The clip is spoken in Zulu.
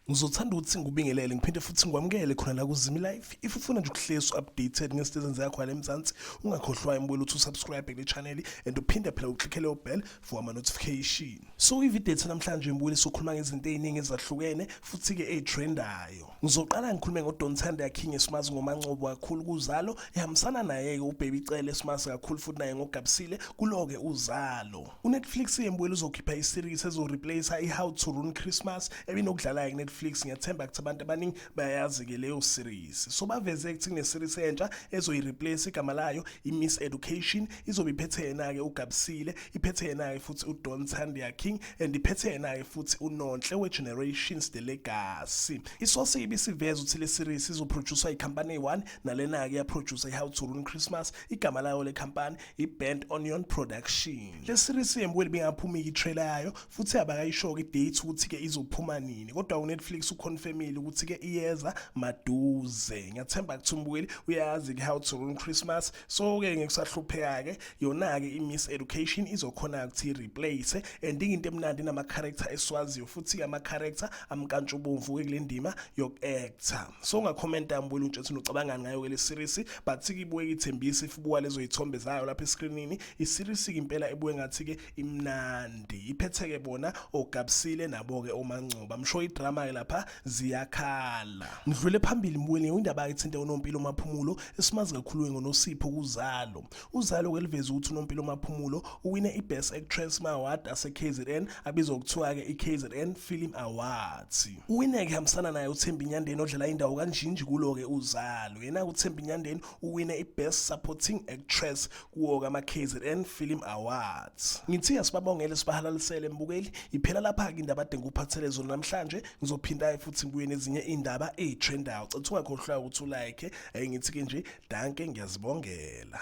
ngizothanda ukuthi ngikubingelele ngiphinde futhi ngikwamukele khona la kuzimi life if ufuna nje ukuhlezi updated ngezinto ezenziwa khona emzansi ungakhohlwa imbuyelo uthi usubscribe kule channel and uphinde phela uklikhele ubell for ama notification So ivideo ethu namhlanje ngibuyile sokhuluma ngezinto eziningi ezahlukene futhi ke ezitrendayo. Ngizoqala ngikhulume ngo Don Thanda King esimazi ngomancobo kakhulu kuzalo ehambisana naye ke uBaby Cele esimazi kakhulu futhi naye ngogabisile kuloke uzalo. UNetflix yembuyile uzokhipha iseries ezo replace i How to Ruin Christmas ebinokudlala ke Netflix ngiyathemba ukuthi abantu abaningi bayayazi ke leyo series. So baveze ukuthi kune series entsha ezoyi replace igama layo i Miss Education izobe iphethe yena ke ugabisile iphethe yena-ke futhi udon sandia king and iphethe yena-ke futhi unonhle we-generations the legacy isosi ibisiveza ukuthi le series izophroduswa ikhampani eyi-one nalena-ke yaphrodusa i-how to run christmas igama layo le khampani i-band onion production le series yembweli bingaphuma iyitrailer yayo futhi abakayisho-ke idate ukuthi-ke izophuma nini kodwa unetflix uconfirmile ukuthi-ke iyeza maduze ngiyathemba kuthi umbukeli uyazi-ke how to run christmas so ke ngikusahlupheka ke yona ke imiss education izokhona ukuthi replace and into emnandi nama character eswaziyo futhi ama character amkantsha ubomvu ke kulendima yok actor so ungakhomenta mbulu nje ukuthi ucabangani ngayo ke le series but sikibuye ithembisi ifubuka lezo izithombe zayo lapha escreenini i series impela ebuye ngathi ke imnandi iphetheke bona ogabsile nabo ke omangcoba msho idrama ke lapha ziyakhala ngidlule phambili mbuyeni indaba ethinte unompilo maphumulo esimazi kakhulu ngonosipho kuzalo uzalo keliveza ukuthi unompilo maphumulo uwine ibest actress ma award ase KZN abizwa ukuthiwa ke iKZN Film Awards uwine ke hamsana naye uThembi Nyandeni odlala indawo kanjinji kulo ke uzalo yena uThembi Nyandeni uwine ibest supporting actress kuwo kama-kzn film awards ngithiya sibabongele sibahalalisele mbukeli iphela lapha-ke indaba adinga ukuphathele zona namhlanje ngizophinda-ke futhi ngibuye nezinye iy'ndaba ey'trendayo cetha ungakhohlwa ukuthi ulike um ngithi-ke nje danke ngiyazibongela